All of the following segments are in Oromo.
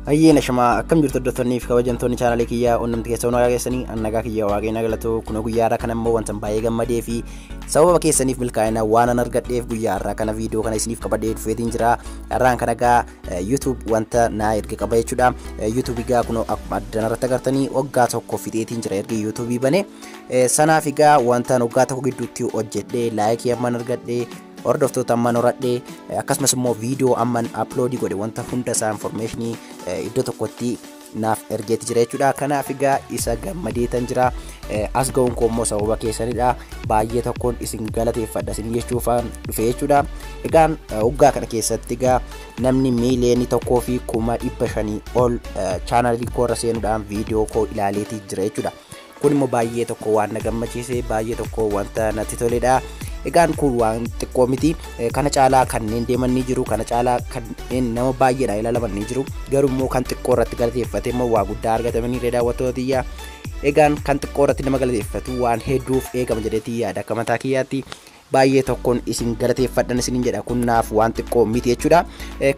Hayyeen ashamaa akkam jirtu hordoftoonni fi kabajamtoonni chaanaalii kiyyaa onnumti keessa hunaa keessanii annagaa kiyya waaqayna galatu kunoo guyyaa irraa kana immoo wantan baay'ee gammadee fi sababa keessaniif milkaa'ina waan an argadheef guyyaa irraa kana viidiyoo kana isiniif qabadee dhufeetiin jira irraan kana gaa YouTube wanta naa erga qaba jechuudha YouTube gaa kunoo akkuma addan irratti agartanii waggaa tokko fixeetiin jira erga YouTube bane sanaaf gaa wantan waggaa tokko gidduutti hojjedhe laayikii amman argadhe Hordoftoota amman horadhe akkasumas immoo viidiyoo amman upload godhe wanta hunda isaa information iddoo tokkotti naaf ergeetti jira jechuudha. Kanaaf egaa isa gammadeetan jira. As ga'uun koo immoo sababa keessanidha. Baay'ee tokkoon isin galateeffadha isin jechuufaan dhufe jechuudha. Egaan waggaa kana keessatti egaa namni miiliyoonii tokkoo fi kuma dhibba shanii ol chaanalii koo irra seenuudhaan viidiyoo koo ilaaleetii jira jechuudha. kun immoo baay'ee tokko waan na gammachiise baay'ee tokko wanta natti toledha. Egaan kun waan xiqqoo miti kana caalaa kanneen deeman ni jiru kana caalaa kanneen nama baay'eedha ilaalaman ni jiru garuu immoo kan xiqqoo irratti galateeffate immoo waa guddaa argatamanii irra daawwattoota tiyyaa egaan kan xiqqoo irratti nama galateeffatu waan hedduuf eegama jedhetii yaada akka mataa kiyyaatti baay'ee tokkoon isin galateeffadhan isinin jedha kun naaf waan xiqqoo miti jechuudha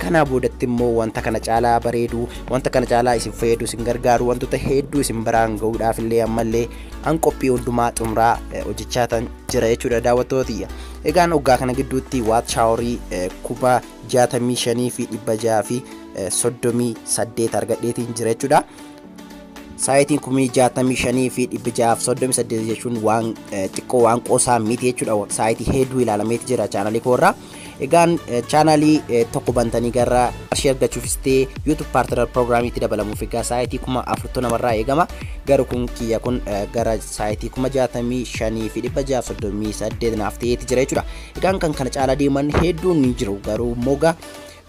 kanaa boodatti immoo wanta kana caalaa bareedu wanta kana caalaa isin fayyadu isin gargaaru wantoota hedduu isin biraan ga'uudhaaf illee ammallee an qophii hundumaa xumuraa hojjechaa tan jira jechuudha daawwattootiyya egaan oggaa kana gidduutti waat shaaworii kuma jaatamii shanii fi dhibba jaha fi soddomii saddeet argadheetiin jira jechuudha saayitiin kumii 65 fi 638 jechuun waan xiqqoo waan qoosaa miti jechuudha saayitii hedduu ilaalameeti jira chaanalii koorraa egaan chaanalii tokko bantanii gara qarshii argachuufis ta'e yuutuub paartinar piroogiraamiitti dabalamuuf egaa saayitii kuma afurtu namarraa eegama garuu kun kiyya kun gara saayitii kuma 65 fi 638 naaf ta'eeti jira jechuudha egaan kan kana caalaa deeman hedduun ni jiru garuu moga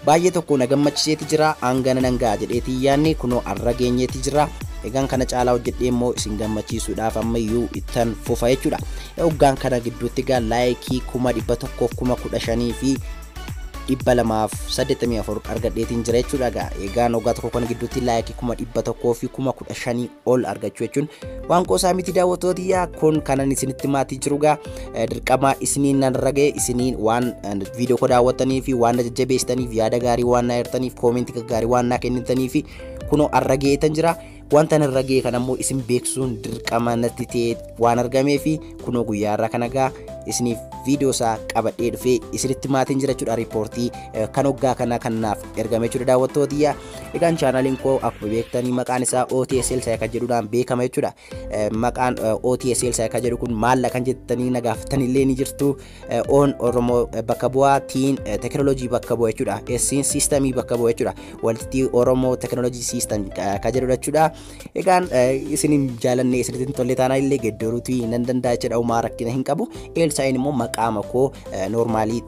Baay'ee tokko na gammachiseeti jira hangana nan ga'a jedheeti hin yaanne kunoo arra geenyeeti jirra egaan kana caalaa hojjedhee immoo isin gammachiisuudhaaf ammayyuu ittan fufa jechuudha oggaan kana gidduutti egaa laayikii kuma dhibba tokkoof kuma kudha shanii fi dhibba lamaaf saddeettamii afur argadheetiin jira jechuudha egaa egaan oggaa tokko kana gidduutti laayikii kuma dhibba tokkoo fi kuma kudha shanii ol argachuu jechuun waan qoosaa miti daawwattootiyyaa kun kanan isinitti maatii jirugaa dirqama isiniin nan ragee isiniin waan viidiyoo koo daawwattanii fi waan na jajjabeessitaniif yaada gaarii waan na hirtaniif koomentii gaggaarii waan naa kennitanii fi kunoo arrageetan jira wanta nan ragee kan ammoo isin beeksisuun dirqama natti ta'e waan argamee fi kunoo guyyaa irraa kana gaa isiniif viidiyoo isaa qabadhee dhufee isinitti maatiin jira jechuudha riippoortii kan hoggaa kana kanaaf ergame jechuudha daawwattootiyya egaan chaanaaliin koo akkuma beektanii maqaan isaa OTSL isaa kan jedhuudhaan beekama jechuudha maqaan OTSL isaa kan jedhu kun maalla kan jettanii na gaafattan illee ni jirtu. Oon Oromoo bakka bu'aa, tiin tekinooloojii bakka bu'a jechuudha. Essiin siistamii bakka bu'a jechuudha. Walitti Oromoo tekinooloojii siistam kan jedhudha jechuudha. Egaan isin hin jaalanne isin hin tolle taanaan illee geddaruutu nan danda'a jechuudha. Uumaa rakkina hin qabu. Eelsaayin immoo maqaama koo noormaalii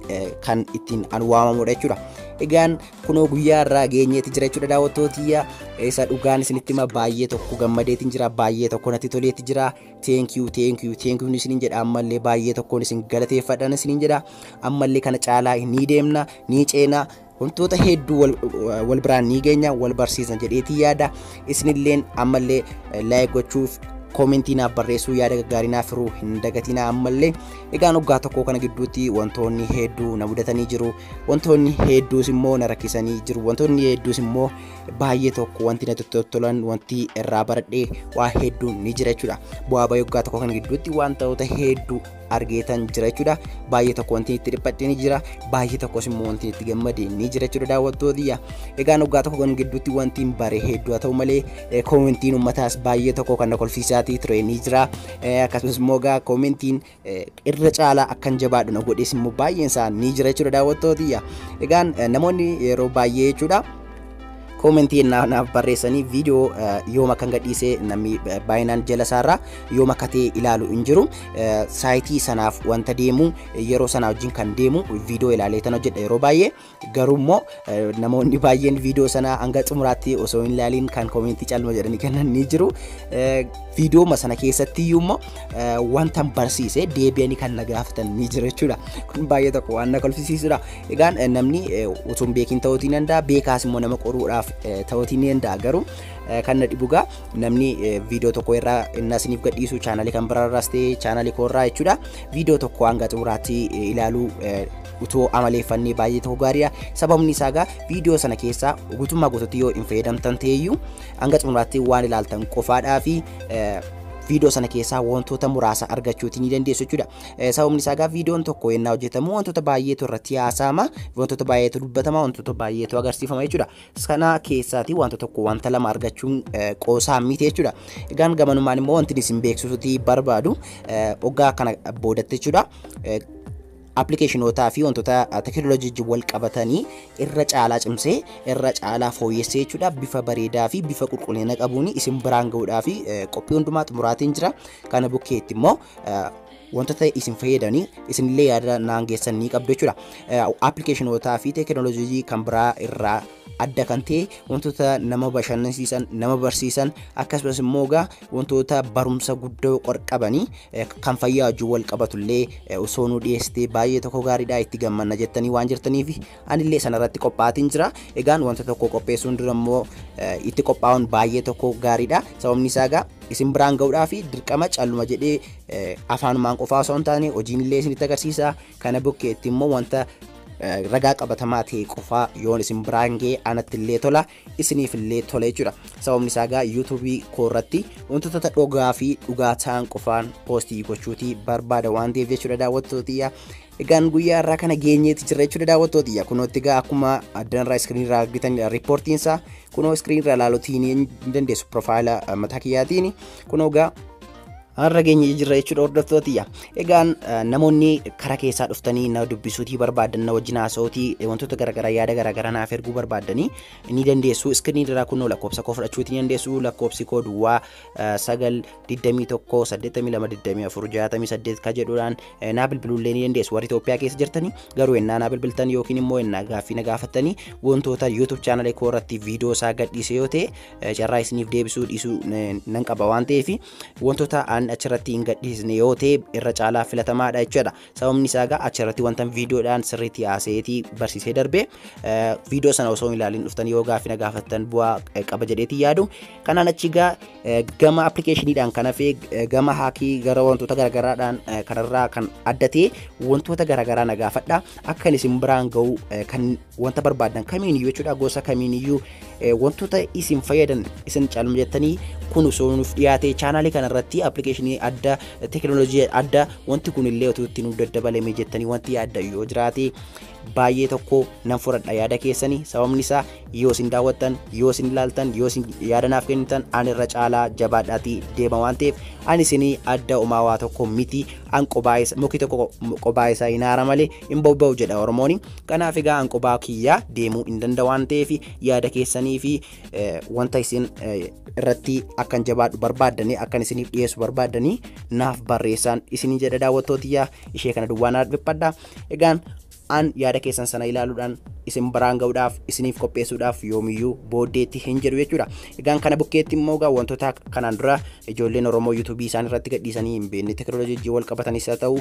kan ittiin an waamamudha jechuudha. Egaan kunoo guyyaa irraa geenyeeti jira jechuudha daawwattootiyya isa dhugaan isinitti hima baay'ee tokko gammadeetiin jira baay'ee tokko natti toleetti jira teenkiyuu teenkiyuu teenkiyuun isiniin jedha ammallee baay'ee tokkoon isin galateeffadhan isiniin jedha ammallee kana caalaa ni deemna ni ceena wantoota hedduu wal biraan ni geenya wal barsiisna jedheetii yaada isinilleen ammallee laayik gochuuf koomentii naaf barreessuu yaada gaggaarii naaf hiruu hin dagatinaa ammallee Egaan waggaa tokkoo kana gidduutti wantoonni hedduu na mudatanii jiru. Wantoonni hedduus immoo na rakkisanii jiru. Wantoonni hedduus immoo baay'ee tokko wanti natti toltolan wanti irraa baradhee waa hedduun ni jira jechuudha. Bu'aa bayii waggaa tokkoo kana gidduutti wantoota hedduu argeetan jira jechuudha. Baay'ee tokko wanti itti dhiphadhe ni jira. Baay'ee tokkos immoo wanti itti gammade ni jira jechuudha daawwattootiyya. Egaan waggaa tokko kana gidduutti wanti hin bare hedduu haa ta'u malee koomentiin uummataas baay'ee tokko kan na kolfiisaatii ture ni jira. akkasumas immoo egaa koomentiin irra caalaa akkan jabaadhu na godhees immoo baay'een isaa ni jira jechuudha daawwattootiyya. Egaan namoonni yeroo baay'ee jechuudha koomentii naaf barreessanii viidiyoo yoom akkan gadhiisee namni baay'inaan jala isaarraa yoom akka ta'e ilaalu hin jiru. Saayitii sanaaf wanta deemu yeroo sanaa wajjin kan deemu viidiyoo ilaalee tan hojjedha yeroo baay'ee. Garuu immoo namoonni baay'een viidiyoo sana hanga xumuraatti osoo hin ilaaliin kan koomentii calma jedhanii kennan ni jiru. Viidiyooma sana keessatti iyyuu immoo wanta barsiise deebi'anii kan na gaafatan ni jiru jechuudha. Kun baay'ee tokko waan na kolfisiisudha. Egaa namni utuu hin beekin ta'uu ni danda'a. Beekaas immoo nama qoruudhaaf ta'uu ni danda'a. Garuu kan na dhibu egaa namni viidiyoo tokko irraa inni isiniif gadhiisu chaanalii kan biraarraas ta'e chaanalii koorraa jechuudha. Viidiyoo tokko hanga xumuraatti ilaaluu utuu amaleeffannee baay'ee ta'uu gaariidha. Sababni isaa egaa viidiyoo sana keessaa guutummaa guutuutti yoo hin fayyadamtan ta'eyyuu hanga xumuraatti waan ilaaltan qofaadhaa fi viidiyoo sana keessaa wantoota muraasa argachuuti ni dandeessu jechuudha. Sababni isaa egaa viidiyoon tokko yennaa hojjetamu wantoota baay'eetu irratti haasa'ama, wantoota baay'eetu dubbatama, wantoota baay'eetu agarsiifama jechuudha. Sana keessaati wanta tokko wanta lama argachuun qoosaa miti jechuudha. Egaan gamanumaan immoo wanti isin beeksisuuti barbaadu oggaa kana boodatti jechuudha. Appilikeeshinootaa fi wantoota teekinooloojii wajjin wal qabatanii irra caalaa cimsee irra caalaa fooyyessee jechuudha bifa bareedaa fi bifa qulqullina qabuun isin biraan ga'uudhaa fi qophii hundumaa xumuraatiin jira kana bukkeetti immoo wantoota isin fayyadanii isinillee yaada naan geessan ni qabdu jechuudha. Appilikeeshinootaa fi teekinooloojii kan biraa irraa adda kan ta'e wantoota nama bashannansiisan nama barsiisan akkasumas immoo egaa wantoota barumsa guddoo qorqabanii kan fayyaa wajjin wal qabatullee osoo nu dhiyeessitee baay'ee tokko gaariidha itti gammanna jettanii waan jirtaniif anillee sanarratti qophaatiin jira egaan wanta tokko qopheessuun dura immoo itti qophaa'uun baay'ee tokko gaariidha sababni isaa egaa isin biraan ga'uudhaa fi dirqama calluma jedhee afaanumaan qofaa osoo hin taane hojiin illee isinitti agarsiisa Kana bukkeetti immoo wanta ragaa qabatamaa ta'e qofaa yoon isin biraan ga'e anatti illee tola isiniif illee tola jechuudha. Sababni isaa egaa yuutuubii koo irratti wantoota dhugaa fi dhugaa ta'an qofaan poostii gochuuti barbaada waan ta'eef jechuudha daawwattootiyya. Egaan guyyaa irraa kana geenyeeti jirra jechuudha daawwattootiyya. Kunootti egaa akkuma addan irraa iskiriin irraa argitan riippoortiin isaa kunoo iskiriin irraa ilaaluutiin ni dandeessu piroofaayila mataa kiyyaatiin kunoo egaa har'a geenye jirra jechuudha hordoftootiyya. Egaan namoonni karaa keessaa dhuftanii na dubbisuutii barbaadan na wajjin haasa'uutii wantoota garaagaraa yaada garaagaraa naaf erguu barbaadanii ni dandeessu. Iskiriinii irraa kunoo lakkoofsa koo fudhachuutii ni dandeessu. Lakkoofsi koo duwwaa sagal digdamii tokko saddeettamii lama digdamii afur jaatamii saddeet ka jedhuudhaan naa bilbiluullee ni dandeessu. Warri Itoophiyaa keessa jirtanii garuu ennaa naa bilbiltan yookiin immoo ennaa gaaffii na gaafattanii wantoota YouTube chaanalee koo irratti viidiyoo isaa gadhiise yoo ta'e carraa isiniif deebisuu dhiisuu nan qaba waan ta'eef wantoota aan achirratti hin gadhiisne yoo ta'e irra caalaa filatamaadha jechuudha. Sababni isaa egaa achirratti wanta viidiyoodhaan sirriitti haasayeetii barsiisee darbee viidiyoo sana osoo hin ilaalin dhuftan yoo gaaffii na gaafattan bu'aa qaba jedheetii yaadu. Kanaan achi egaa gama appilikeeshiniidhaan kan hafe gama haakii gara wantoota garaagaraadhaan kanarraa kan adda ta'e wantoota garaagaraa na gaafadha. Akka isin biraan ga'u kan wanta barbaaddan kamiiniyyuu jechuudha gosa kamiiniyyuu wantoota isin fayyadan isin caalma jettanii kun osoo nuuf dhiyaate chaanaalii kana irratti appilikeeshinii adda teekinooloojii adda wanti kun illee otoo itti nuuf daddabalame jettanii wanti yaadda yoo jiraate baay'ee tokko nan fudhadha yaada keessanii sababni isaa yoo isin daawwattan yoo isin ilaaltan yoo isin yaada naaf kennitan an irra caalaa jabaadhaati deema waan ta'eef an isinii adda umaawaa tokko miti an qobaayisa muki tokko qobaayisa hin haara malee hin bobba'u jedha Oromooni. Kanaaf egaa an qubaa kiyyaa deemuu hin danda waan ta'eef yaada keessanii fi wanta isin irratti akkan jabaadhu barbaaddanii akkan isiniif dhiyeessu barbaaddanii naaf barreessaan isinii jedha daawwattootiyyaa ishee kana duwwaa naaf dhiphadha. Egaan an yaada keessan sana ilaaluudhaan isin biraan ga'uudhaaf isiniif qopheessuudhaaf yoomiyyuu booddeetti hin jedhu jechuudha. Egaan kana bukkeetti immoo egaa wantoota kanaan dura ijoolleen Oromoo yuutuubii isaan irratti gadhiisanii hin beekne tekinooloojiin wal qabatanis haa ta'u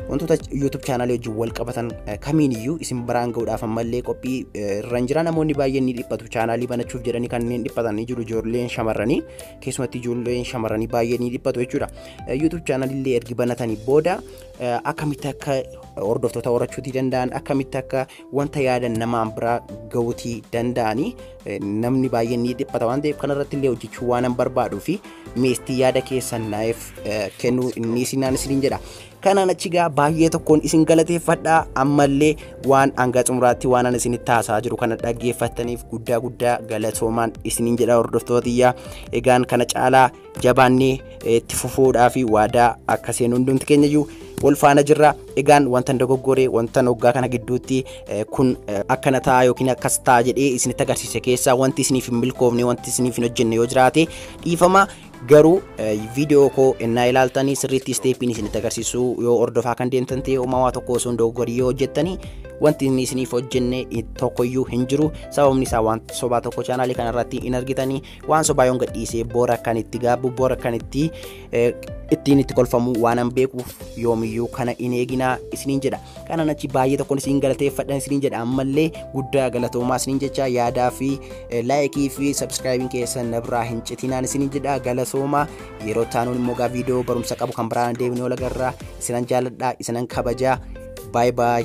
wantoota YouTube chaanaalii wajjin wal qabatan kamiin iyyuu isin biraan ga'uudhaaf ammallee qophii irra hin jira namoonni baay'een ni dhiphatu chaanaalii banachuuf jedhanii kanneen dhiphatan ni jiru ijoolleen shamarranii keessumatti ijoolleen shamarranii baay'ee ni dhiphatu jechuudha YouTube chaanaalii illee ergi banatanii booda akkamitti akka hordoftoota horachuutii danda'an akkamitti akka wanta yaadan namaan biraa ga'uutii danda'anii namni baay'een ni dhiphata waan ta'eef kanarratti illee hojjechuu waan hin barbaaduu fi meestii yaada keessan naaf kennuu inni isinaan isiniin jedha. Kanaan achi gaa baay'ee tokkoon isin galateeffadha ammallee waan hanga xumuraatti waan ani isinitti haasaa jiru kana dhaggeeffattaniif guddaa guddaa galatoomaan isiniin jedha hordoftootiyyaa egaan kana caalaa jabaannee itti fufuudhaa fi waadaa akka seenu hundumti keenya iyyuu wal faana jirra. Egaan wantan dogoggore wantan hoggaa kana gidduutti kun akkana ta'a yookiin akkas ta'a jedhee isinitti agarsiise keessaa wanti isiniif hin milkoofne wanti isiniif hin hojjenne yoo jiraate dhiifama garuu viidiyoo koo ennaa ilaaltanii sirriitti isteeppiin isinitti agarsiisuu yoo hordofaa kan deemtan ta'e uumamaa tokko osoo hin dogoggorii yoo hojjettanii wanti inni isiniif hojjenne tokkoyyuu hin jiru sababni isaa waan sobaa tokko chaanaalii kanarratti hin argitanii waan sobaa yoon gadhiisee boora kan itti gaabbu boora kan itti ittiin itti kolfamu waan an beekuuf yoomiyyuu kana hin eeginaa isiniin jedha kanaan achi baay'ee tokkoon isin galateeffadhan isiniin jedha ammallee guddaa galatoomaa isiniin jecha yaadaa fi laayikii fi sabskraayibiin keessan nabraa hin citinaan isiniin jedha galatoomaa yeroo taanuun immoo gaa viidiyoo barumsa qabu kan biraan deebinee olagarraa isinan jaaladhaa isinan kabajaa baay baay